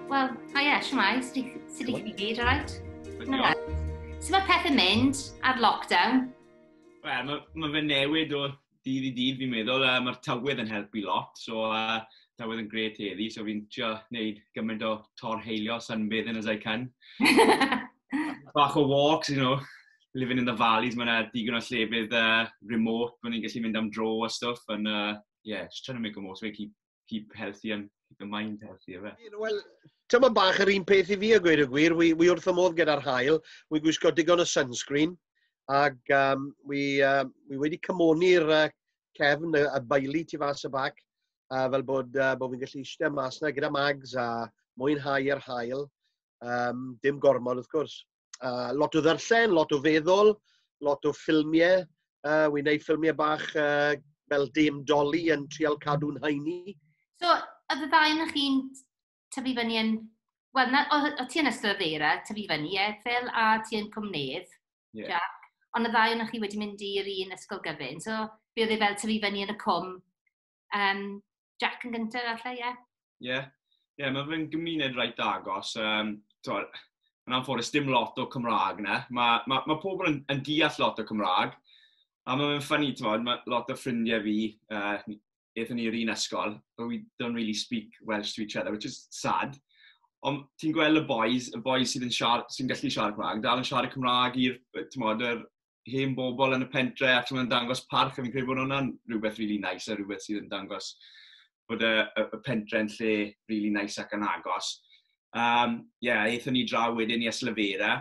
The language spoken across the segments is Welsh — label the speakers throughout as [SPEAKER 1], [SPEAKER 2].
[SPEAKER 1] Wel, a ie, siwmai, sut i chi gyd, all right? Sut mae pethau mynd ar lockdown? Wel, mae ma fe newid o dydd i dydd fi'n meddwl. Uh, Mae'r tywydd yn helpu lot, so uh, tywydd yn gret heddi, so fi'n trio gwneud gymaint o tor heilio sunbathing as I can. Bach o walks, you know, living in the valleys, mae'n digon o llefydd uh, remote, mae'n ni'n gallu mynd am dro a stuff, and uh, yeah, just trying to make the most of it, keep, keep healthy and keep the mind healthy, efe. Wel, tyma bach yr un peth i fi a gweud y gwir, wy, wy wrth y modd gyda'r hael, wy gwisgo digon o sunscreen, ac um, wy, uh, wy wedi cymoni'r uh, cefn, y, y baili tu fas y bac, uh, fel bod, uh, bod fi'n gallu eistedd mas na gyda mags a mwynhau yr hael, um, dim gormod wrth gwrs. uh, lot o ddarllen, lot o feddwl, lot o ffilmiau. Uh, Wy'n gwneud ffilmiau bach uh, fel dim doli yn trial cadw'n haini. So, oedd y ddau yna chi'n tyfu fyny yn... Wel, na, o, o ti yn ystod ddeira, tyfu fyny, e, Phil, a ti yn cwmnydd, yeah. Jack. Ond y ddau yna chi wedi mynd i'r un ysgol gyfyn. So, be oedd e fel tyfu fyny yn y cwm Um, Jack yn gyntaf, allai, ie? Yeah. Ie, yeah. yeah, mae fe'n gymuned reit agos. Um, yn anffodus, dim lot o Cymraeg na. Mae ma, ma pobl yn, yn deall lot o Cymraeg. A mae fe'n ffynnu, ti'n modd, mae lot o ffrindiau fi, uh, eithon ni'r un ysgol, but we don't really speak Welsh to each other, which is sad. Ond ti'n gweld y boys, y boys sydd yn siar, sy'n gallu siarad Cymraeg, dal yn siarad Cymraeg i'r, ti'n modd, yr hen bobl yn y pentre a ti'n dangos parch a fi'n credu bod hwnna'n rhywbeth really nice a rhywbeth sydd yn dangos bod y, y, y pentre'n lle really nice ac yn agos. Um, yeah, eithon ni draw wedyn i Eslyfera.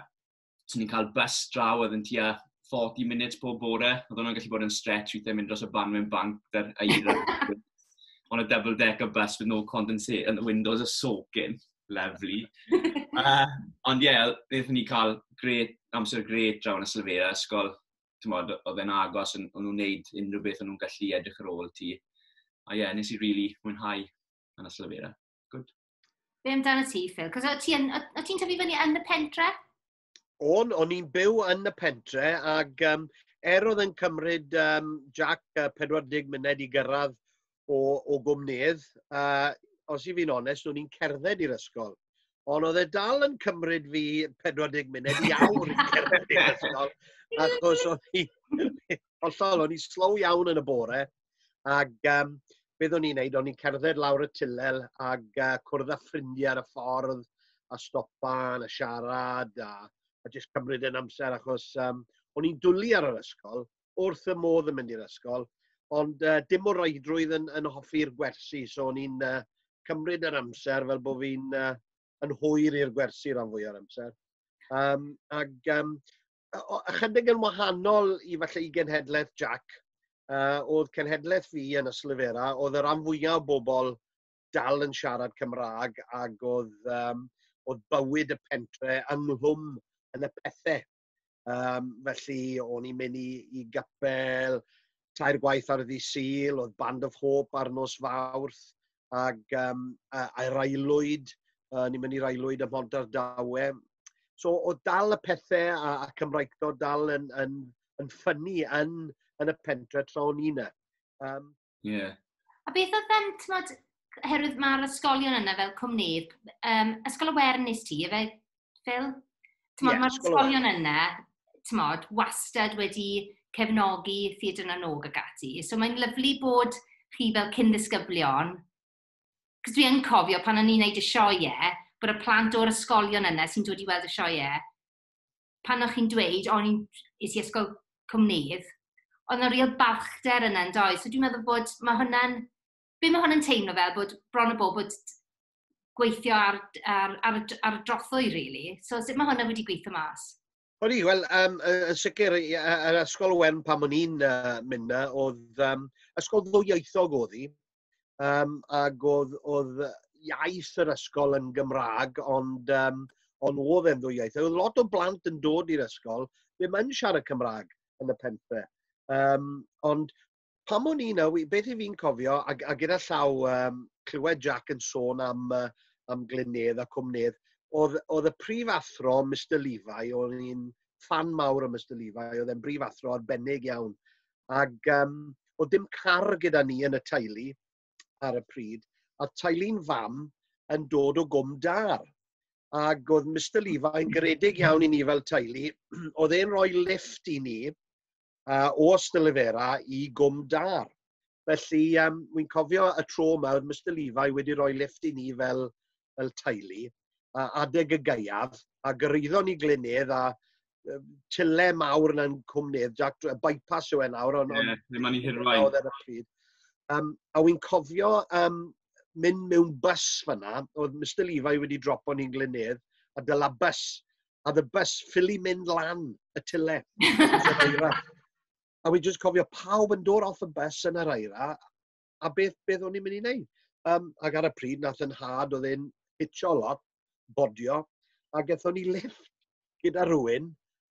[SPEAKER 1] So ni'n cael bus draw oedd yn tua 40 munud pob bore. Oedd hwnna'n gallu bod yn stretch weithiau mynd dros y ban mewn banc dy'r eira. on a double decker bus with no condensate and the windows are soaking. lyflu. uh, ond ie, yeah, wnaethon ni cael gret, amser gret draw yn y Sylfeira ysgol. Tymod, oedd e'n agos, o'n nhw'n wneud unrhyw beth o'n nhw'n gallu edrych ar ôl ti. A ie, yeah, nes i really mwynhau yn y Sylfeira. Good. Be amdano ti, Phil? Cos o ti'n tyfu fyny yn y pentre? o'n, o'n i'n byw yn y pentre ac um, er oedd yn cymryd um, Jack uh, 40 munud i gyrraedd o, o gwmnydd, uh, os i fi'n onest, o'n i'n cerdded i'r ysgol. Ond oedd e dal yn cymryd fi 40 munud i awr i cerdded i'r ysgol, achos o'n i, hollol, o'n i slow iawn yn y bore, Ac um, beth o'n i'n neud, o'n i'n cerdded lawr y tilel ac uh, cwrdd â ffrindiau ar y ffordd a stopan a siarad a, a jyst cymryd yn amser achos um, o'n i'n dwlu ar yr ysgol, wrth y modd yn mynd i'r ysgol, ond uh, dim o roedrwydd yn, yn hoffi'r gwersi, so o'n i'n uh, cymryd yr amser fel bod fi'n uh, yn hwyr i'r gwersi rhan fwy o'r amser. Um, ac um, ychydig yn wahanol i falle i genhedlaeth Jack, uh, oedd cenhedlaeth fi yn y Slyfera, oedd yr am fwyaf o bobl dal yn siarad Cymraeg ac oedd, um, oedd bywyd y pentre ynghlwm yn y pethau. Um, felly, o'n i'n mynd i, i gapel tair gwaith ar y ddi syl, oedd Band of Hope ar nos fawrth, ac um, a'r aelwyd, uh, ni'n mynd i'r aelwyd ym Mhont Ardawe. So o dal y pethau a, a Cymraegdod dal yn, yn, yn ffynnu yn, yn y pentre tra o'n i'n Um, yeah. A beth oedd yn, tmod, oherwydd mae'r ysgolion yna fel cwmnydd, um, ysgol y Wern nes ti, efe Phil? Tmod, yeah, mae'r ysgolion yna, tmod, wastad wedi cefnogi ffid yn anog ag ati. So mae'n lyflu bod chi fel cyn ddisgyblion, cos dwi yn cofio pan o'n i'n neud y sioe, bod y plant o'r ysgolion yna sy'n dod i weld y sioe, pan o'ch chi'n dweud, o'n i'n is i ysgol cwmnydd, ond yna real balchder yna yn doi. So dwi'n meddwl bod, mae hwnna'n be mae hwn yn teimlo fel, bod bron a bod bod gweithio ar ar ar y ar y drothwy rili. So sut mae hwnna wedi gweithio mas? O'n i, wel, um, yn sicr, yr ysgol Owen pan o'n i'n uh, mynd na, oedd um, ysgol ddwyieithog oedd hi, um, ac oedd, oedd iaith yr ysgol yn Gymraeg, ond, um, ond oedd e'n ddwyieithog. Oedd lot o blant yn dod i'r ysgol, ddim yn siarad Cymraeg yn y pentre. Um, ond pam o'n i na, beth i fi'n cofio, a, a gyda llaw um, clywed Jack yn sôn am, uh, am Glynedd a Cwmnedd, oedd, oedd y prif athro, Mr Levi, o'n i'n fan mawr o Mr Levi, oedd e'n brif athro arbennig iawn. Ac um, oedd dim car gyda ni yn y teulu ar y pryd, a teulu'n fam yn dod o gwm dar. Ac oedd Mr Levi yn garedig iawn i ni fel teulu, oedd e'n rhoi lift i ni, uh, o Stylyfera i Gwm Dar. Felly, um, wy'n cofio y tro yma, oedd Mr Levi wedi rhoi lift i ni fel, fel teulu, a adeg y gaiaf, a gyraeddon ni Glynedd, a tyle mawr yna'n cwmnydd, Jack, y bypass yw e nawr, ond... Ie, yeah, ddim ond i hirwain. Oedd e'r pryd. Um, a wy'n cofio um, mynd mewn bus fyna, oedd Mr Levi wedi dropo ni'n Glynedd, a dyla bus a the bus ffili mynd lan y tyle. a fi'n just cofio pawb yn dod off y bus yn yr aira, a beth, beth o'n i'n mynd i wneud. Um, ac ar y pryd, nath yn had, oedd e'n hitio lot, bodio, a gethon ni lift gyda rhywun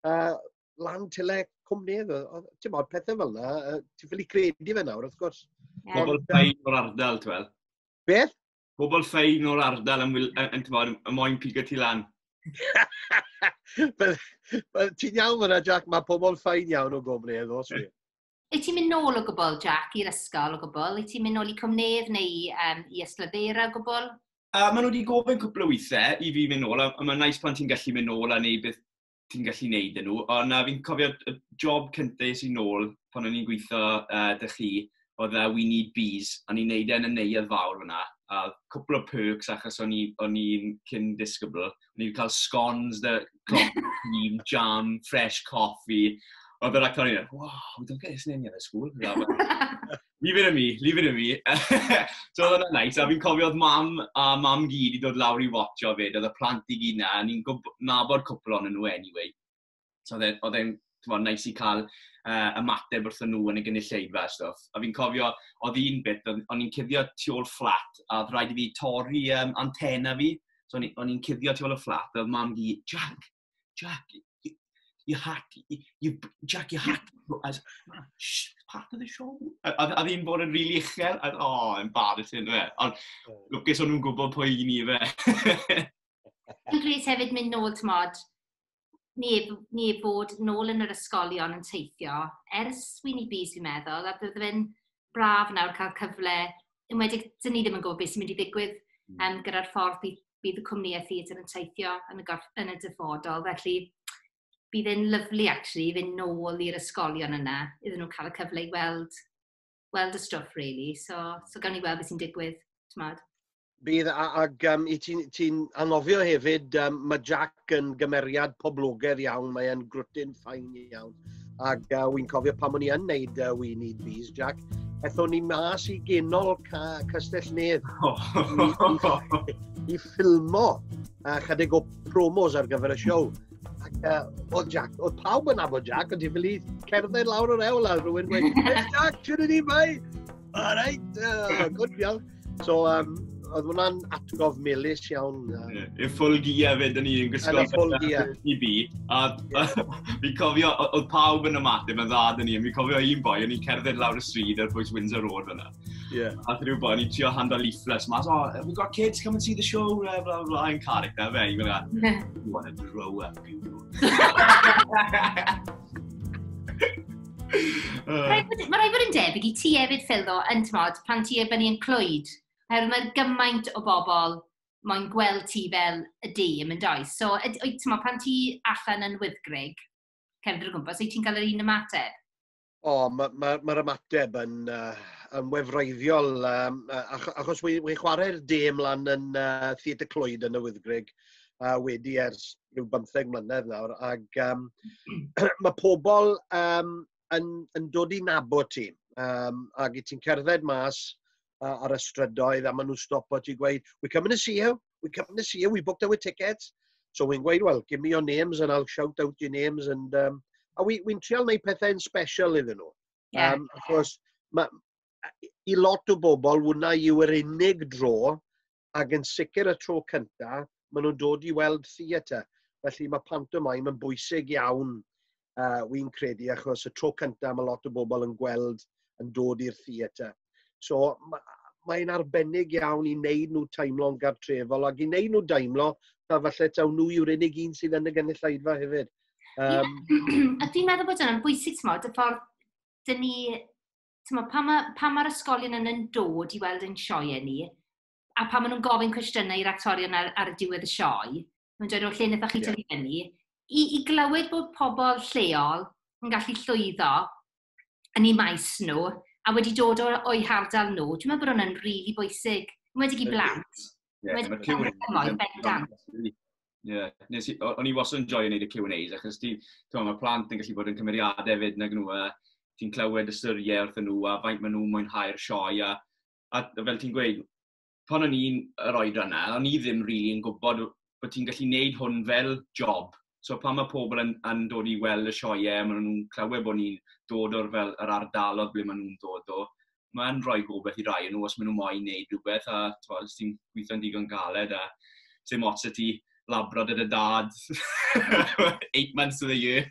[SPEAKER 1] uh, lan tyle cwmni. Ti'n modd, pethau fel yna, uh, ti'n ffili credu fe nawr, wrth gwrs. Yeah. Pobl bain o'r ardal, ti'n fel? Beth? pobl ffein o'r ardal yn, yn, yn, yn, yn moyn pigo ti lan. Ti'n iawn fyna, Jack, mae pobl ffain iawn o gofre edo, os fi. Wyt ti'n mynd nôl o gwbl, Jack, i'r ysgol o gwbl? Wyt ti'n mynd nôl i Cymnedd neu um, i Yslyfeira o gwbl? A maen nhw wedi gofyn cwpl o weithiau i fi mynd nôl, a, a mae'n nais pan ti'n gallu mynd nôl a neud beth ti'n gallu neud yn nhw. Ond uh, fi'n cofio y job cyntaf sy'n nôl pan o'n i'n gweithio uh, dy chi, oedd uh, We Need Bees, a ni'n neud e'n y neuad fawr fyna. A cwpl o perks achos o'n i'n cyn disgybl. O'n i'n cael scones, the coffee, jam, fresh coffee. Oedd yr actor i'n dweud, wow, don't get this name in the school. Leave it in me, leave it in me. so oedd hwnna'n nice, a fi'n cofio oedd mam a mam gyd i dod lawr i watcho fyd, oedd y plant i gyd na, a ni'n nabod cwpl ond nhw anyway. So e, oedd e'n, ti'n nice i cael uh, ymateb wrth nhw yn y gynulleidfa a stwff. A fi'n cofio, oedd un bit, o'n i'n cuddio tu ôl fflat, a oedd rhaid i fi torri um, antena fi, so o'n i'n cuddio tu ôl y fflat, oedd mam gyd, Jack, Jack, you, you had, you, you, Jack, you had to, as, part of the show. A, a, a ddim bod yn rili really uchel, a, o, oh, embarrassing, fe. Ond, oh. lwcus o'n nhw'n gwybod pwy i ni, fe. Dwi'n gris hefyd mynd nôl, tmod, ni, ni bod nôl yn yr ysgolion yn teithio, ers Sweeney Bees, fi'n meddwl, a bydd fe'n braf nawr cael cyfle, yn wedi, dyn ni ddim yn gwybod beth sy'n mynd i ddigwydd um, gyda'r ffordd bydd bydd y cwmnïau theatr yn teithio yn y, gorff, yn y dyfodol. Felly, bydd e'n lyflu actually i fynd nôl i'r ysgolion yna, iddyn nhw cael y cyfle i weld, weld y stwff, really. So, so gawn ni weld beth sy'n digwydd, tymod. Bydd, ag um, i ti'n ti anghofio hefyd, um, mae Jack yn gymeriad poblogaidd iawn, mae'n grwtyn ffain iawn. Ac uh, wy'n cofio pan o'n i yn neud uh, We Need Bees, Jack, ethon ni mas i genol ca Castell Nedd oh. i, i, i ffilmo a uh, chydig o promos ar gyfer y siow. Ac uh, o Jack, o pawb yn abod Jack, ond i fili cerdded lawr o'r ewl a rhywun gweud, Jack, ti'n ni mai? All right, uh, good, iawn. So, um, oedd hwnna'n atgof melus iawn. Um, y ffwl gia fe, dyn ni'n gwisgo i bi. A fi cofio, oedd pawb yn ymateb yn dda dyn ni. Fi cofio un boi, o'n i'n cerdded lawr y stryd ar bwys Windsor Road fyna. Yeah. A rhyw boi, o'n i'n trio handle leaflets mas, oh, we got kids, come and see the show, bla bla bla, yn carig da fe. I'n gwneud, you want to grow up, you know. Mae rhaid bod yn debyg i ti hefyd, Phil, ddo, yn tymod, pan ti efo ni'n clwyd. Oherwydd mae gymaint o bobl mae'n gweld ti fel y dîm yn does. So, ti'n mo, pan ti allan yn wyddgrig, cefndir o gwmpas, wyt ti'n cael yr un ymateb? O, oh, mae'r ma, ma, ma ymateb yn, uh, yn wefreiddiol, um, achos wy'n wy chwarae'r dîm lan yn uh, Theatr Clwyd yn y Wyddgrig uh, wedi ers rhyw bymtheg mlynedd nawr, ac um, mae pobl um, yn, yn dod i nabod ti, um, ac i ti'n cerdded mas uh, ar y strydoedd, a maen nhw'n stopo ti gweud, we come to see you, we come to see you, we booked our tickets. So we'n gweud, well, give me your names and I'll shout out your names. And, um, a we, we'n trial neud pethau'n special iddyn nhw. Yeah. Um, achos, ma, i lot o bobl, wna i yw'r unig dro ac yn sicr y tro cynta, maen nhw'n dod i weld theatr. Felly mae pantomaim yn bwysig iawn, uh, wy'n credu, achos y tro cynta mae lot o bobl yn gweld yn dod i'r theatr. So mae'n arbennig iawn i wneud nhw teimlo'n gartrefol ac i wneud nhw deimlo ta falle taw nhw yw'r unig un sydd yn y gynulleidfa hefyd. Um... Yeah. a dwi'n meddwl bod yna'n bwysig, tmod, y ffordd dyn ni timod, pan mae'r ma, ma ysgolion yn yn dod i weld ein sioe ni, a pan maen nhw'n gofyn cwestiynau i'r actorion ar, ar y diwedd y sioe, mae'n dweud o'r lle wnaethoch chi yeah. fyny, i, i glywed bod pobl lleol yn gallu llwyddo yn ei maes nhw, a wedi dod o'i hardal nhw, dwi'n meddwl bod hwnna'n rili really bwysig, wedi i blant. Yeah, Wedi cael y cymoedd bendant. Yeah. Nes i, o'n i wastad yn joio wneud y Q&A's, achos ti, ti'n mae plant yn gallu bod yn cymeriadau hefyd nag nhw, a ti'n clywed y syriau wrth nhw, a faint maen nhw'n mwynhau'r sioe, a, a fel ti'n gweud, pan o'n i'n yr oed yna, o'n i ddim rili really yn gwybod bod ti'n gallu wneud hwn fel job, So pan mae pobl yn, yn dod i weld y sioeau, maen nhw'n clywed bod ni'n dod o'r fel yr ardalodd ble maen nhw'n dod o. Mae'n rhoi gobeith i rai yn nhw os maen nhw moyn neud rhywbeth a twa, os ti'n gweithio'n digon galed a sy'n mots y ti labro dyd y dad. Eight months of the year.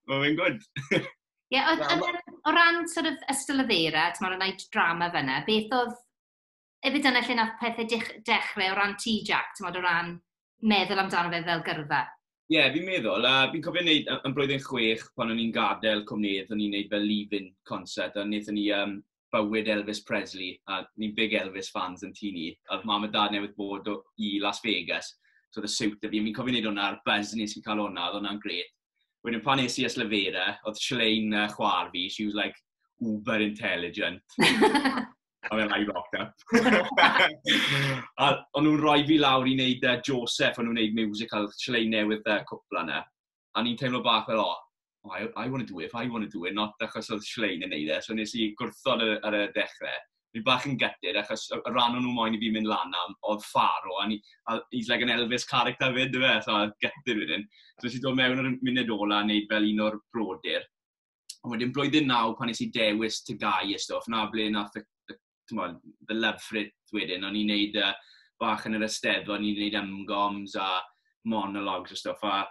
[SPEAKER 1] Mae'n mynd gwrdd. Ie, o ran sort of ystol y ddeira, ti'n meddwl, yna drama fyna, beth oedd Efyd dyna lle nath pethe dech- dechre o ran ti Jac, t'mod o ran meddwl amdano fe fel gyrfa? Ie, yeah, fi'n meddwl, a fi'n cofio wneud yn blwyddyn chwech pan o'n i'n gadael cwmnïdd, o'n i'n wneud fel leave-in concert, a wnaethon ni um, bywyd Elvis Presley, a ni'n big Elvis fans yn tu ni, a oedd mam a dad newydd bod o, i Las Vegas, so oedd y siwt y fi, fi'n cofio wneud hwnna, a'r buzz nes i cael hwnna, oedd hwnna'n gret. Wedyn pan nes i Yslefera, oedd Silein uh, chwar fi, she was like uber intelligent. A fe lai locked up. a o'n nhw'n rhoi fi lawr i wneud uh, Joseph, o'n nhw'n wneud musical llai newydd uh, cwpla yna. A ni'n teimlo bach fel, oh, oh, I, I want to do it, I want to do it, not achos oedd Silein yn neud e, so nes i gwrthod ar, ar y dechrau. Ni bach yn gytid, achos y rhan o'n nhw moyn i fi mynd lan am oedd Faro, a, ni, a he's like an Elvis character fyd, dyfe, so gytid wedyn. So nes i dod mewn ar y munud ola a wneud fel un o'r brodyr, Ond wedyn blwyddyn naw, pan nes i dewis tygau y stwff, na ble na y, tymod, the love for it wedyn, o'n i'n neud uh, bach yn yr ystedd, o'n i'n neud ymgoms a monologues a stwff, a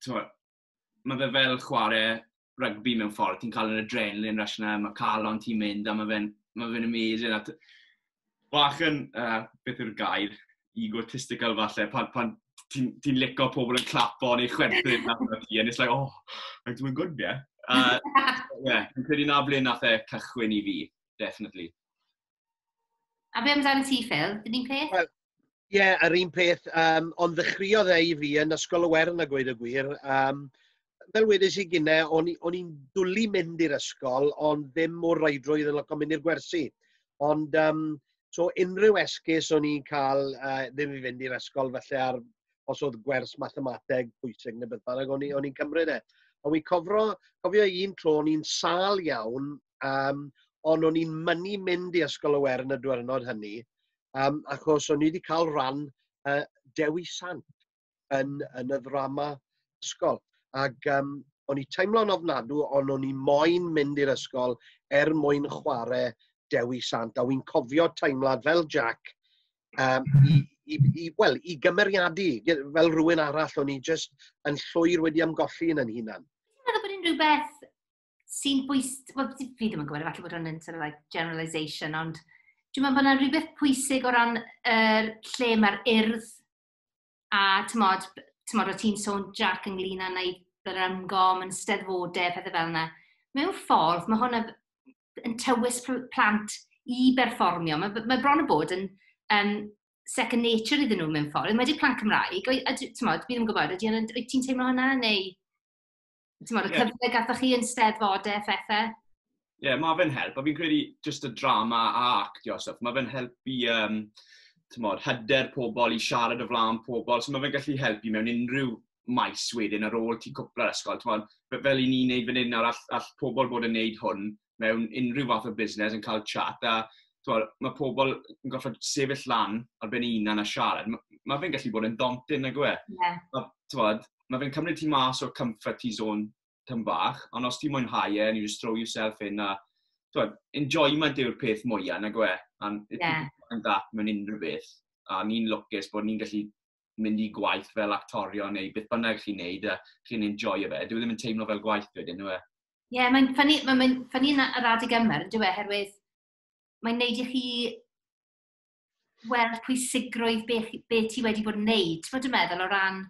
[SPEAKER 1] tymod, mae fe fel chwarae rygbi mewn ffordd, ti'n cael yr adrenalin rush yna, mae calon ti'n mynd, a mae fe'n ma fe amazing, a bach yn, uh, beth yw'r gair, egotistical falle, pan, pan ti'n ti licio pobl yn clapo neu chwerthin na pan ti, and it's like, oh, I'm doing good, yeah. Uh, yeah, yn credu na ble nath e cychwyn i fi, definitely. A be amdano ti, Phil? Dyn ni'n peth? Well, Ie, yeah, yr un peth, um, ond ddechreuodd e i fi yn Ysgol y Wern a gweud y gwir. Um, fel wedys i gynne, o'n i'n dwlu mynd i'r ysgol, ond ddim mor raidrwydd yn loco mynd i'r gwersi. Ond, um, so unrhyw esgus o'n i'n cael uh, ddim i fynd i'r ysgol, felly ar, os oedd gwers mathemateg pwysig neu beth bynnag, o'n i'n cymryd e. Ond fi'n cofro, cofio un tro, o'n i'n sal iawn, um, ond o'n i'n mynnu mynd i Ysgol y Wern y diwrnod hynny, um, achos o'n i wedi cael rhan uh, Dewi Sant yn, yn y ddrama ysgol. Ac um, o'n i teimlo'n ofnadw, ond o'n i moyn mynd i'r ysgol er mwyn chwarae Dewi Sant. A wy'n cofio teimlad fel Jack um, i, i, i, well, i gymeriadu fel rhywun arall o'n i just yn llwyr wedi amgolli yn yn hunan. Dwi'n meddwl bod unrhyw beth sy'n bwys... Wel, fi ddim yn gwybod, efallai bod hwnna'n sort of like generalisation, ond dwi'n meddwl bod yna rhywbeth pwysig o ran er, lle mae'r urdd a tymod, tymod o ti'n sôn Jack ynglyn â wneud yr ymgom yn steddfodau, pethau fel yna. Mewn ffordd, mae hwnna yn tywys plant i berfformio. Mae, mae bron y bod yn um, second nature iddyn nhw mewn ffordd. Mae wedi plant Cymraeg, a, tymod, fi ddim yn gwybod, ydy ti'n teimlo hwnna neu... ti'n modd, y yeah. cyfle gathoch chi yn steddfod e, phethau? Ie, yeah, mae fe'n help, a fi'n credu just y drama a actio a stuff, mae fe'n helpu, um, ti'n modd, hyder pobl i siarad o flaen pobl, so mae fe'n gallu helpu mewn unrhyw maes wedyn ar ôl ti cwpla'r ysgol, ti'n modd, fel i ni'n neud fan hyn nawr, all, all pobl bod yn neud hwn, mewn unrhyw fath o busnes yn cael chat a twa, mae pobl yn gorfod sefyll lan ar ben ei hunan a siarad. Mae, mae fe'n gallu bod yn daunting nag yw e. Yeah. A, twod, mae fe'n cymryd ti mas o comfort ti zone tyn bach, ond os ti'n mwynhau e, and you just throw yourself in a, twod, enjoyment yw'r peth mwyaf nag yw e. And if yeah. you find that mewn unrhyw beth, a ni'n lwcus bod ni'n gallu mynd i gwaith fel actorio neu beth bynnag chi'n neud a chi'n enjoy fe. Dwi e ddim yn teimlo fel gwaith wedyn, yw e? Ie, yeah, mae'n ffynnu, mae'n mae ffynnu yn yr adeg yma, yn dweud, herwydd mae'n neud i chi weld pwysigrwydd be, be ti wedi bod yn neud, ti'n bod yn meddwl o ran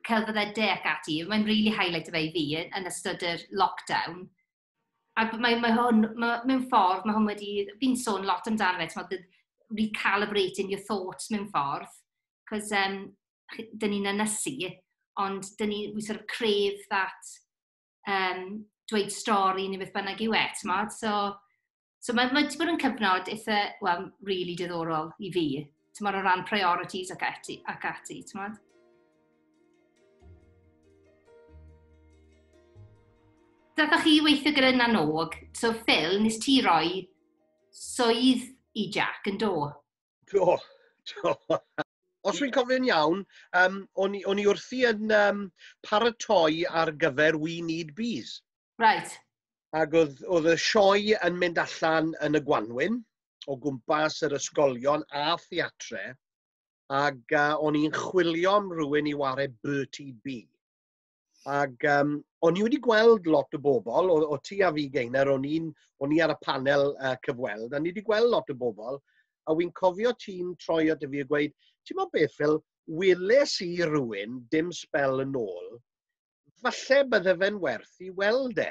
[SPEAKER 1] celfyddydau ac ati. Mae'n rili really highlight o fe i fi yn ystod yr lockdown. A mae, mae hwn, mae, mewn ffordd, mae hwn wedi, fi'n sôn lot amdano fe, ti'n meddwl, recalibrating your thoughts mewn ffordd, cos um, dyn ni'n ynysu, ond dyn ni, we sort of crave that um, dweud stori neu beth bynnag yw e, tmod? So, so mae wedi bod yn cyfnod eitha, well, really diddorol i fi, tmod o ran priorities ac ati, ac ati tmod? Dathoch chi weithio gyda Nanog, so Phil, nes ti roi swydd i Jack yn do? Do, do. Os dwi'n cofio'n iawn, um, o'n, i, i wrthi yn um, paratoi ar gyfer We Need Bees. Right. Ac oedd, oedd y sioe yn mynd allan yn y gwanwyn o gwmpas yr ysgolion a theatre, ac uh, o'n i'n chwilio am rhywun i ware Bertie B. Ac um, o'n i wedi gweld lot o bobl, o, o ti a fi Geiner, o'n, un, o'n i ar y panel uh, cyfweld, a ni wedi gweld lot o bobl, a wy'n cofio ti'n troi at y fi a gweud, ti'n mo beth fel, weles i rywun dim spel yn ôl, falle bydde fe'n werth i weld e.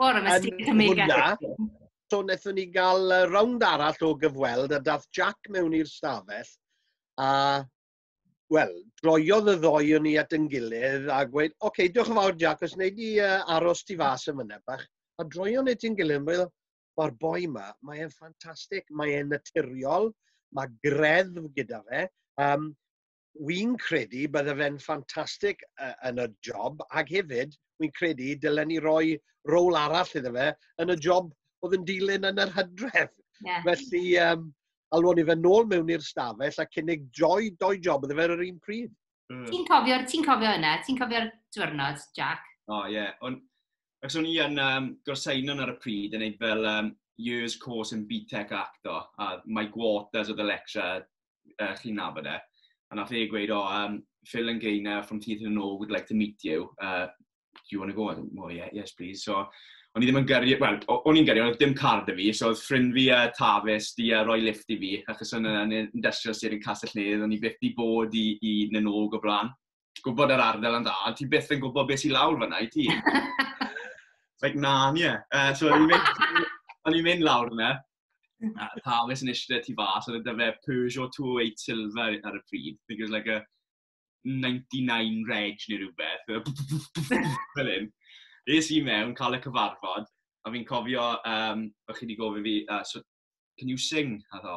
[SPEAKER 1] Wel, yn hwnna, so wnaethon ni gael uh, rownd arall o gyfweld a dath Jack mewn i'r stafell a, wel, droiodd y ddoi o'n ni at yn gilydd a gweud, oce, okay, diolch yn fawr Jack, os wneud i uh, aros ti fas yn fyna bach. A droio'n ei ti'n gilydd, fel, mae'r boi yma, mae e'n ffantastig, mae e'n naturiol, mae greddf gyda fe. Um, wi'n credu bydde fe'n ffantastig uh, yn y job, ac hefyd, wi'n credu, dylen ni roi rôl arall iddo fe yn y job oedd yn dilyn yn yr hydref. Yeah. Felly, um, alwon ni fe nôl mewn i'r stafell a cynnig joy, doi job iddo fe ar yr un pryd. Mm. Ti'n cofio, ti cofio yna? Ti'n cofio'r diwrnod, Jack? O, oh, ie. Yeah. On, ac o'n i yn um, gorsainon ar y pryd yn ei fel um, years course in BTEC acto, a Mike Waters oedd y lecture, uh, chi'n nabod e. A nath e gweud, o, oh, um, Phil and Gaynor from Teeth and Know would like to meet you. Uh, do you want to go? I went, oh, yeah, yes, please. So, o'n i ddim yn gyrru, wel, o'n i'n gyrru, ond dim card y fi, so oedd ffrind fi a uh, Tafis di a uh, roi lift i fi, achos o'n yn industrial sir yn Castell Nedd, o'n i byth di bod i, i Nanog o blaen. gwybod yr ardal yn dda, ond ti byth yn gwybod beth sy'n lawr fyna i ti. It's like, na, nie. Uh, so, o'n i'n mynd, o'n i'n mynd lawr yna, a Thomas yn eisiau ti fas, oedd yna fe Peugeot 208 Silver ar y pryd. I think it was like a 99 reg neu rhywbeth. Fel hyn. Nes i mewn, cael y cyfarfod, a fi'n cofio, um, o'ch chi wedi gofyn fi, uh, so, can you sing? A ddo,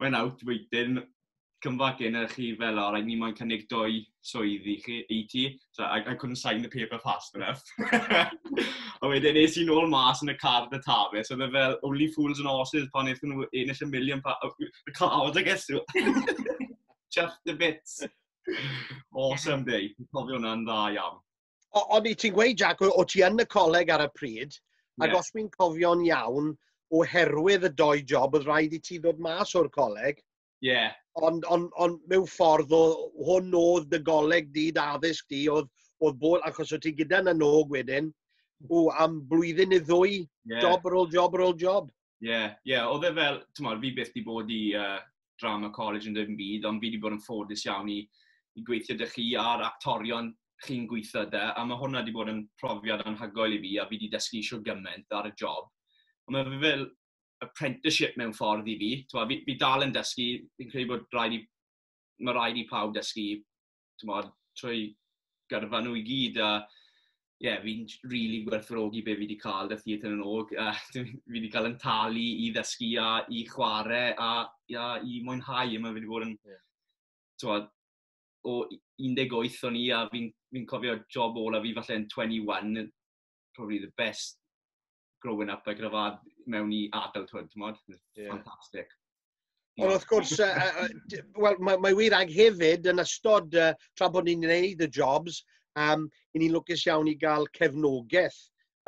[SPEAKER 1] mae'n out wedyn cymfag yn eich chi fel o, rhaid ni moyn cynnig dwy swydd i, chi, i ti. So, I, I couldn't sign the paper fast enough. a wedyn nes i'n ôl mas yn y car dy tafe, so fe fel only fools and horses pan eithon nhw yn eich million pa... Oh, the cars, I guess. Just the bits. Awesome day. Cofio hwnna'n dda iawn. O, ond i ti'n gweud, Jack, o ti yn y coleg ar y pryd, ac yeah. os fi'n cofio'n iawn, oherwydd y doi job, oedd rhaid i ti ddod mas o'r coleg. Ie. Yeah. Ond on, on, mewn ffordd, o, hwn oedd dy goleg di, dy addysg di, oedd, oedd bod, achos oedd ti gyda na nog wedyn, o, am blwyddyn neu ddwy, yeah. job ar ôl job ar ôl job. Ie, yeah, ie, yeah. oedd e fel, ti'n modd, fi byth di bod i uh, drama college yn ddim byd, ond fi di bod yn ffodus iawn i, i gweithio dy chi a'r actorion chi'n gweithio dy, a mae hwnna di bod yn profiad anhygoel i fi, a fi di dysgu eisiau gymaint ar y job. Ond mae fe fel apprenticeship mewn ffordd i fi. Twa, fi, fi dal yn dysgu, fi'n credu bod rhaid i, mae rhaid i pawb dysgu tymod, trwy gyrfa nhw i gyd, a ie, yeah, fi'n rili really gwerthfawrogi be fi wedi cael y theatr yn og. A, fi wedi cael yn talu i ddysgu a i chwarae a, a i mwynhau. Mae wedi bod yn... Yeah. Tywed, o 18 o'n i a fi'n fi cofio job ola fi falle yn 21, probably the best growing up like gyda mewn i adulthood, ti'n modd? Yeah. Fantastic. Ond wrth gwrs, uh, uh, well, mae, mae wir ag hefyd yn ystod uh, tra bod ni'n gwneud y jobs, um, i ni'n lwcus iawn i gael cefnogaeth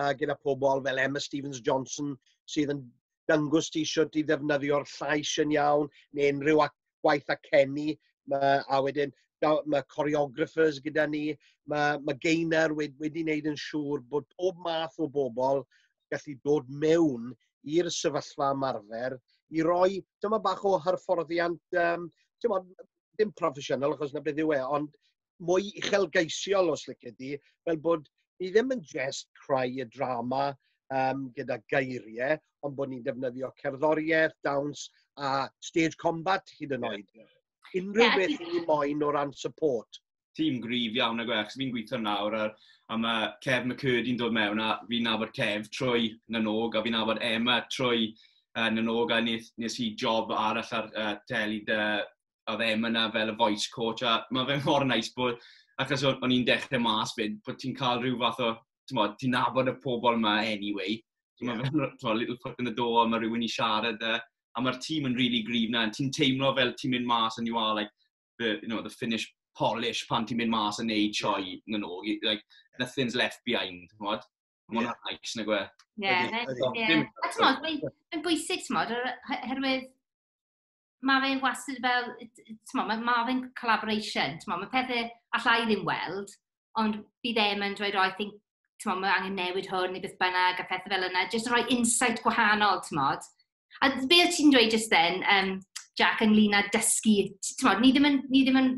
[SPEAKER 1] uh, gyda pobl fel Emma Stevens Johnson sydd yn dangos ti eisiau ti ddefnyddio'r llais yn iawn neu unrhyw ac gwaith a Kenny, mae, a wedyn mae choreographers gyda ni, mae, mae Gainer wedi, wedi wneud yn siŵr bod pob math o bobl gallu dod mewn i'r sefyllfa ymarfer i roi dyma bach o hyfforddiant, um, bod, dim proffesiynol achos na beth yw e, ond mwy uchelgeisiol os licet di, fel bod ni ddim yn jest creu y drama um, gyda geiriau, ond bod ni'n defnyddio cerddoriaeth, dawns a stage combat hyd yn oed. Yeah. Unrhyw yeah, beth i moyn o ran support. Tîm grif iawn ag eich, fi'n gweithio nawr a, a mae Kev McCurdy'n dod mewn a fi'n nabod Kev trwy Nanog a fi'n nabod Emma trwy uh, Nanog a nes, nes i job arall ar uh, teli dy oedd e yna fel y voice coach, a mae fe mor nice bod, achos o'n i'n dechrau mas fyd, bod ti'n cael rhyw fath o, ti'n nabod y pobl yma anyway, so yeah. mae fe'n little foot in the door, mae rhywun i siarad e, a mae'r tîm yn really gryf na, ti'n teimlo fel ti'n mynd mas and you are like the, you know, the finished polish pan ti'n mynd mas yn neud sioe yeah. yn ôl, like, nothing's left behind, ti'n modd? Mae'n yeah. nice, na gwe. Ie, ie. A ti'n modd, mae'n bwysig, ti'n modd, herwydd ma' fe wastad fel yy t- t'mo' ma' ma' fe'n collaboration t'mo' ma' pethe alla i ddim weld ond bydd e'n yn dweud o I think t'mo' ma' angen newid hwn ne' beth bynnag a phethe fel yna jyst roi insight gwahanol t'mod? A d- be' o' ti'n dweud jyst then yym Jac ynglŷn â dysgu t- t'mod ni ddim yn ni ddim yn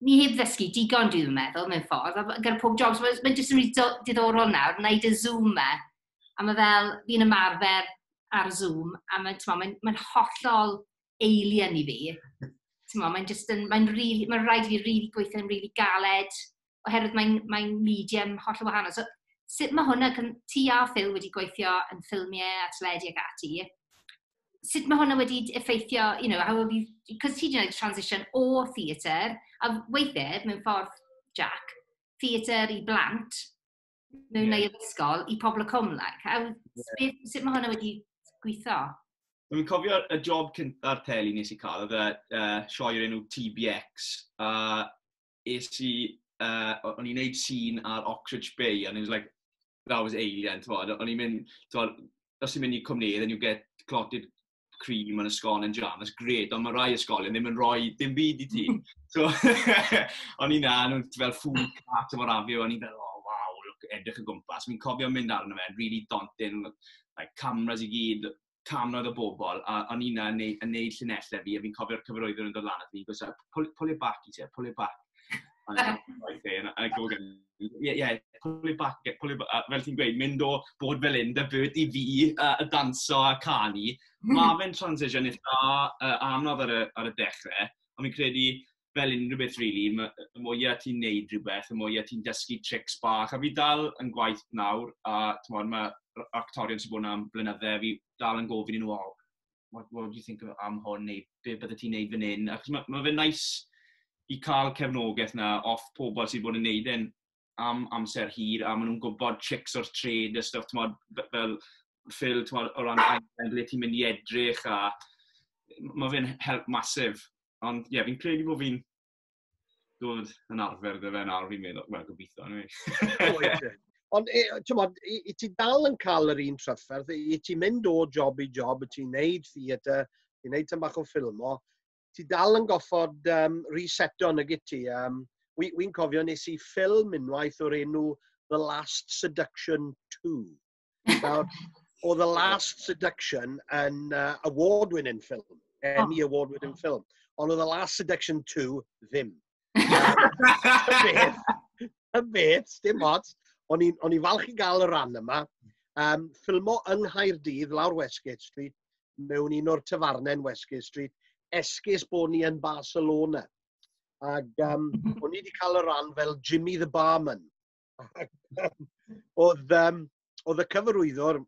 [SPEAKER 1] ni heb ddysgu digon, dwi ddim yn meddwl, mewn ffordd, a gyda pob job, so mae'n jyst yn rili diddorol nawr, na i dy Zoom me, a mae fel, fi'n ymarfer ar Zoom, a mae'n mae, mae hollol alien i fi. Mae'n just yn, mae'n really, mae'n rhaid i fi really gweithio'n really galed, oherwydd mae'n mae'n medium hollol wahanol. So sut mae hwnna, cyn ti a Phil wedi gweithio yn ffilmiau a teledu ac ati, sut mae hwnna wedi effeithio, you know, how have you, because ti wedi gwneud transition o theatr, a weithiau, mewn ffordd, Jack, theatr i blant, mewn yeah. neu'r ysgol, i pobl y cwm, like, how, yeah. sut mae hwnna wedi gweithio? Dwi'n cofio y job cynta'r teli nes i cael, oedd y uh, sioe o'r enw TBX, a uh, es i, uh, o'n i'n neud sîn ar Oxridge Bay, and it was like, that was alien, ti'n bod, o'n i'n mynd, ti'n bod, os ti'n mynd i cwmnedd, and you get clotted cream yn ysgol yn jam, that's great, ond mae rai ysgolion ddim yn rhoi dim byd i ti. so, o'n i'n na, nhw'n fel food cart o'r afio, o'n i'n fel, oh, wow, look, edrych y gwmpas. Mi'n cofio mynd arno fe, really daunting, like cameras i gyd, cannoedd o bobl, a o'n i'n yn, neu, yn neud llinellau fi, a fi'n cofio'r cyfarwyddwr yn dod lan, a fi'n gwrs, pull, pull it back, he said, pull it back. Ie, ie, pull it back, pull it back, a fel ti'n gweud, mynd o bod fel un, dy byd i fi, a, a danso a canu. Mae fe'n transition eitha uh, anodd ar y, ar y dechrau, ond fi'n credu, fel unrhyw beth rili, really, y mwyaf ti'n neud rhywbeth, y mwyaf ti'n dysgu tricks bach, a fi dal yn gwaith nawr, a tymod, mae actorion sy'n bod am blynydde, fi dal yn gofyn i nhw, oh, what, what do you think am hwn, neu be bydde ti'n neud fan hyn, achos mae ma fe'n nice i cael cefnogaeth na off pobl sy'n bod yn neud e'n am amser hir, a maen nhw'n gwybod tricks o'r trade a stuff, tymod, fel ffil, tymod, o ran ble ti'n mynd i edrych, a mae fe'n help masif. Ond ie, yeah, fi'n credu bod fi'n dod yn arfer dy fe nawr, fi'n meddwl, wel, gobeithio, anyway. E? Ond, e, ti'n modd, i, i ti dal yn cael yr un trafferth, i ti mynd o job i job, i ti'n neud theatr, i ti'n neud tyn bach o ffilmo, ti dal yn goffod um, reseto yn y gyti. Um, Wy'n wi cofio nes i ffilm unwaith o'r enw The Last Seduction 2. Nawr, oedd The Last Seduction yn uh, award-winning film, Emmy oh. award-winning film, ond oedd The Last Seduction 2 ddim. y beth, dim ots, o'n i falch i gael y ran yma, um, ffilmo yng Nghaerdydd lawr Westgate Street, mewn un o'r tyfarnen Westgate Street, esgus bod ni yn Barcelona. Ac um, o'n i wedi cael y ran fel Jimmy the Barman. oedd, um, oedd y cyfarwyddwr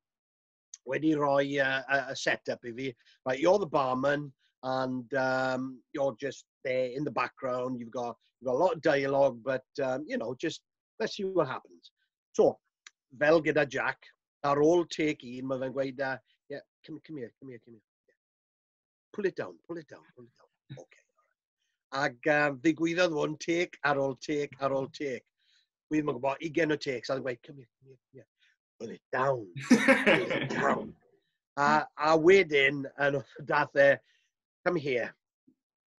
[SPEAKER 1] wedi rhoi uh, a, a set-up i fi. Right, you're the barman and um, you're just there in the background. You've got, you've got a lot of dialogue, but, um, you know, just let's see what happens. So, fel gyda Jack, ar ôl take un, mae fe'n gweud, uh, yeah, come, come here, come here, come here. pull it down, pull it down, pull it down. Okay. Ac um, ddigwyddodd hwn teg ar ôl teg ar ôl teg. Wy'n mwyn gwybod, i gen o teg, so oedd yn gweud, come here, come here, come here. Pull it down, pull it down. A, a wedyn, yn dath e, come here.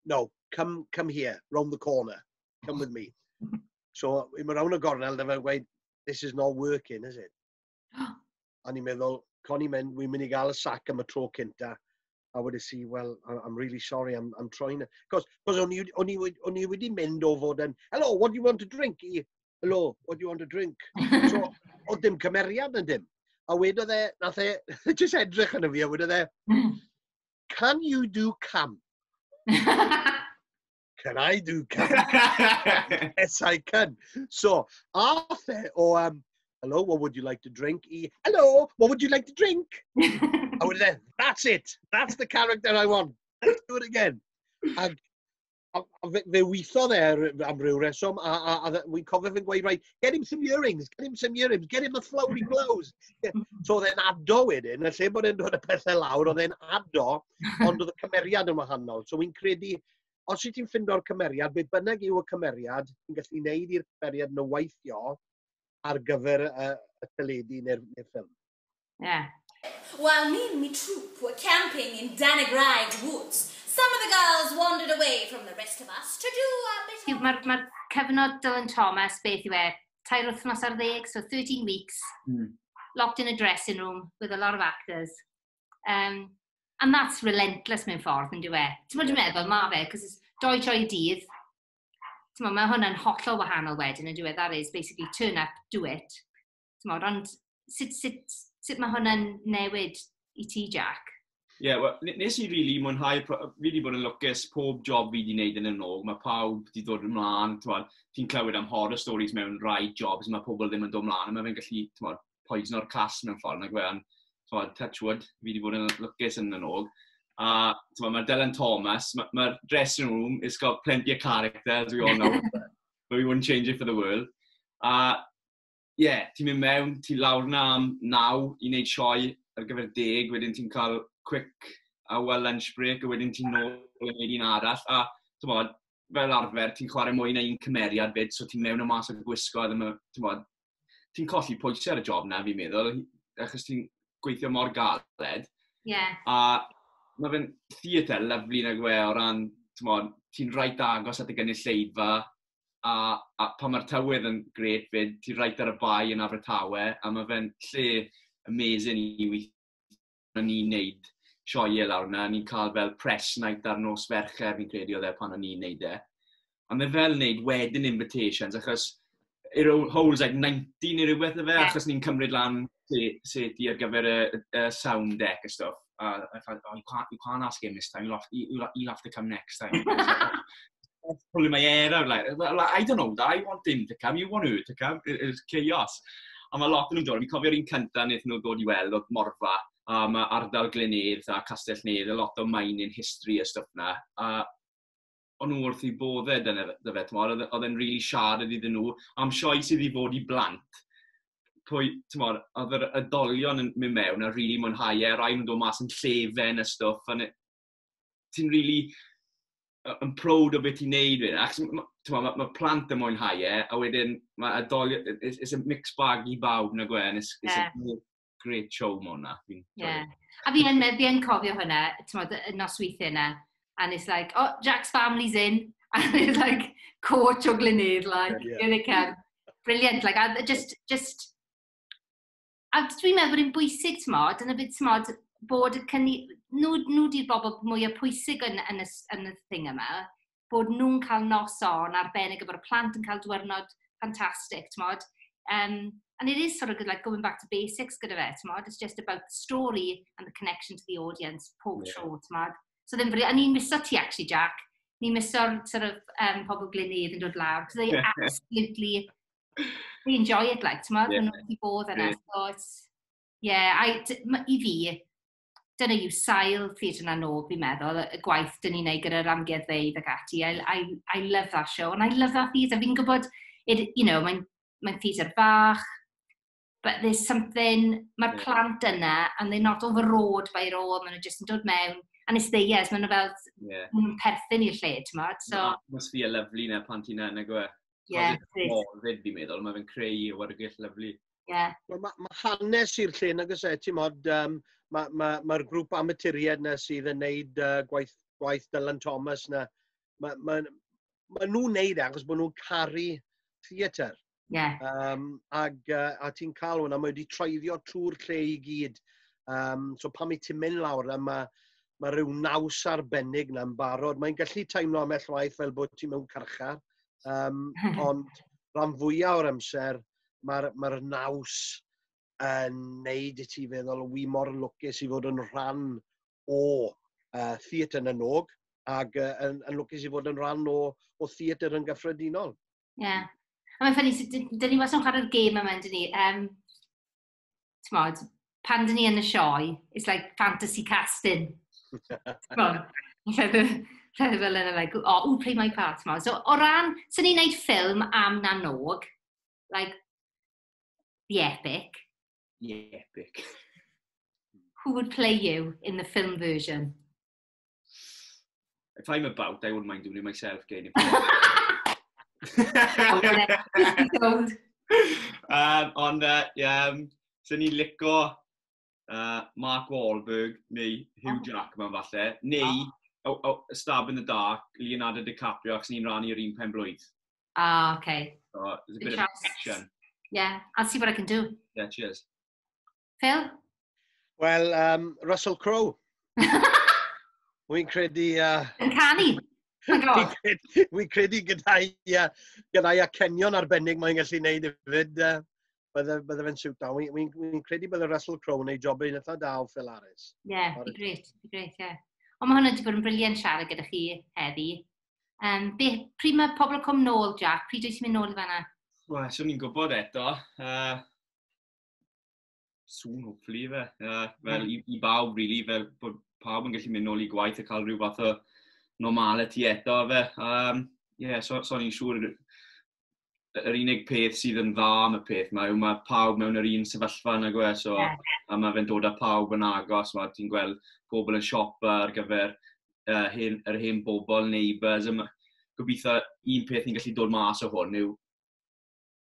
[SPEAKER 1] No, come, come here, round the corner. Come with me. So, i mynd round y gornel, dyfa gweud, this is not working, is it? A ni'n meddwl, con i'n mynd, wi'n mynd i gael y sac am y tro cynta. A wedi si, well, I'm really sorry, I'm, I'm trying. Cos, cos o'n i wedi mynd o fod yn, hello, what do you want to drink? I, hello, what do you want to drink? So, o dim cymeriad yn dim. A wedodd e, nath e, jyst edrych yn y fi, a wedodd e, hmm. can you do cam? can I do can? yes, I can. So, ath e o, um, hello, what would you like to drink? I, hello, what would you like to drink? a wedyn e, that's it. That's the character I want. Let's do it again. A, a, a fe, fe weithodd e ar- am ryw reswm, a, a, a wy'n cofio fe'n gweud, right, get him some earrings, get him some earrings, get him a flowery blouse. Get- So oedd e'n ado wedyn, a lle bod e'n dod y pethau lawr, oedd e'n ado, ond oedd y cymeriad yn wahanol. So wy'n credu Os wyt ti'n ffindo'r cymeriad, be bynnag yw y cymeriad, ti'n gallu gwneud i'r cymeriad nhw weithio ar gyfer y, y teledu neu'r neu ffilm. Ie. Yeah. While me and me troop were camping in Danagridge Woods, some of the girls wandered away from the rest of us to do a bit of... Mae'r ma cyfnod Dylan Thomas, beth yw e, tair wythnos ar ddeg, so 13 weeks, mm. locked in a dressing room with a lot of actors. Um, and that's relentless mewn ffordd, yn diwe. Ti'n mwyn yeah. meddwl, ma fe, cos it's doi joy dydd. Ti'n mwyn, mae hwnna'n hollol wahanol wedyn, yn diwe, that is basically turn up, do it. Ti'n mwyn, ond sut, sut, sut mae hwnna'n newid i ti, Jack? Ie, yeah, well, nes i really mwynhau, fi wedi bod yn lwcus pob job fi wedi gwneud yn y nog, mae pawb wedi dod ymlaen, ti'n clywed am horror stories mewn rai jobs, mae pobl ddim yn dod ymlaen, a mae fe'n gallu, ti'n poison o'r clas mewn ffordd, nag fe, ond twa, touch wood, fi wedi bod yn lwcus yn y nog. A twa, mae Dylan Thomas, mae'r ma dressing room, it's got plenty of character, as we all know, but we wouldn't change it for the world. A ie, yeah, ti'n mynd mewn, ti lawr na am naw i wneud sioe ar gyfer deg, wedyn ti'n cael quick a well lunch break, a wedyn ti'n nôl yn gwneud un arall. A ti'n bod, fel arfer, ti'n chwarae mwy na un cymeriad fyd, so ti'n mewn y mas o'r gwisgo, a ddim yn, ti'n bod, ti'n colli pwysau ar y job na, fi'n meddwl, achos ti'n gweithio mor galed. Ie. Yeah. A mae fe'n theatr lyflu nag we o ran, ti'n rhaid agos at y gynulleidfa, a, a pan mae'r tywydd yn gret fyd, ti'n rhaid ar y bai yn Abertawe, a mae fe'n lle amazing i weithio o'n i'n neud sioe lawr na, ni'n cael fel press night ar nos fercher, fi'n credu oedd e pan o'n i'n neud e. A mae fel wneud wedyn invitations, achos it holds like 90 neu rhywbeth o fe, yeah. achos ni'n cymryd lan set i ar gyfer y, y sound deck a stuff. A, a oh, you, can't, you can't ask him this time, you'll have, you'll, you'll have to come next time. pulling my hair out, like, like, I don't know, I want him to come, you want her to come, it, it was chaos. A mae lot yn nhw'n dod, fi'n cofio'r un cyntaf wnaethon nhw dod i weld oedd Morfa, a mae ardal Glenedd a Castell Nedd, a lot o mining history a stuff na. A o'n nhw wrth i boddau dyna e, fe, tymor, oedd e'n really siarad iddyn nhw am sioi sydd i fod i blant. Pwy, tymor, oedd yr ydolion yn mynd mewn a really mwynhau e, rai nhw'n dod mas yn llefen a stuff, a ti'n really yn proud o beth ti'n neud wedyn. Ac mae ma, ma plant yn mwynhau e, a wedyn mae adolio, it's, it's a mixed bag i bawb na gwe, and it's, it's yeah. a great, great show ma hwnna. Yeah. A fi yn, fi yn cofio hwnna, ti'n modd, y nosweithiau yna, and it's like, oh, Jack's family's in, and it's like, coach o glynydd, like, yeah, yeah. Brilliant, like, just, just, a dwi'n meddwl bod e'n bwysig, t'mod, yn y byd, t'mod, bod y cynni... nhw, nhw di'r bobl mwyaf pwysig yn, yn, y, yn y thing yma, bod nhw'n cael nos on arbennig a bod y plant yn cael diwrnod ffantastig, t'mod. Um, and it is sort of good, like going back to basics gyda fe, t'mod. It's just about the story and the connection to the audience pob yeah. tro, t'mod. So ddim fri... A ni'n miso ti, actually, Jack. Ni'n miso'r sort of, um, pobl glinydd yn dod lawr, because they absolutely They enjoy it, like, ti'n meddwl, yeah. nhw wedi bod yna. Yeah. So it's, yeah, I, i fi, dyna yw sail Theatr yna nôl, fi'n meddwl, y gwaith dyn ni'n ei gyda'r amgueddfeydd ac ati. I, I, I love that show, and I love that theatre. Fi'n gwybod, it, you know, mae'n mae theatre bach, but there's something, mae'r plant yna, and they're not overawed by it all, maen nhw jyst yn dod mewn, and it's theirs, maen nhw fel, yeah. maen nhw'n perthyn i'r lle, ti'n modd? So... Na, must be a lovely na plant yna, na gwe. Yeah, it is. Fyd fi'n meddwl, mae fe'n creu i wargell lyflu. Yeah. Mae ma, ma hanes i'r lle, na gysau, e, ti'n modd, um, mae'r ma, ma, ma grŵp amaturiad na sydd yn neud uh, gwaith, gwaith Dylan Thomas na, mae ma, ma nhw'n neud e achos bod nhw'n caru theatr. Ie. Yeah. Um, ag, uh, a ti'n cael hwnna, mae wedi treiddio trwy'r lle i gyd. Um, so pan mae ti'n mynd lawr, a mae, mae rhyw naws arbennig na'n barod. Mae'n gallu teimlo am waith fel bod ti'n mewn carchar, um, ond rhan fwyaf o'r amser, mae'r mae, r, naws yn neud i ti feddwl, wy mor lwcus i fod yn rhan o uh, theatr yn y nog, ac uh, yn, yn lwcus i fod yn rhan o, o theatr yn gyffredinol. Ie. Yeah. A mae'n ffynnu, dyn ni wastad yn chwarae'r gêm yma, dyn ni. Um, Tmod, pan dyn ni yn y sioe, it's like fantasy casting. Tmod, rhedeg fel yna, like, oh, who play my part, tmod. So, o ran, sy'n ni'n neud ffilm am na nog, like, the epic. The epic. Who would play you in the film version? If I'm about, I wouldn't mind doing it myself, getting it. um, ond, uh, yeah, um, sy'n ni'n lico uh, Mark Wahlberg neu Hugh oh. Jackman falle, neu oh. oh, oh, Stab in the Dark, Leonardo DiCaprio, ac sy'n ni'n rannu yr un pen blwydd. Ah, oh, okay. So, there's a bit of action. Yeah, I'll see what I can do. Yeah, cheers. Phil? Wel, um, Russell Crowe. Wy'n credu... Uh, yn canu? Wy'n credu gyda'i uh, gyda acenion arbennig mae'n gallu gwneud hefyd. Uh, bydde, bydde fe'n siwt da. Wy'n wy, wy credu bydde Russell Crowe yn ei job yn eitha da o Phil Harris. Ie, yeah, be gret, be gret, ie. Yeah. Ond mae hwnna wedi bod yn briliant siarad gyda chi heddi. Um, be, pryd mae pobl yn cwm nôl, Jack? Pryd wyt ti'n mynd nôl i fanna? Wel, swn i'n gwybod eto. Uh, soon, hopefully, fe. Uh, fel i, i bawb, really, fel bod pawb yn gallu mynd nôl i gwaith a cael rhyw fath o normality eto, fe. Um, yeah, so, so ni'n siŵr yr unig peth sydd yn dda am y peth mae yw mae pawb mewn yr un sefyllfa yna gwe, so, yeah. a mae fe'n dod â pawb yn agos, mae ti'n gweld pobl yn siopa ar gyfer uh, hen, yr hen bobl, neighbours, yma. gobeithio un peth ni'n gallu dod mas o hwn yw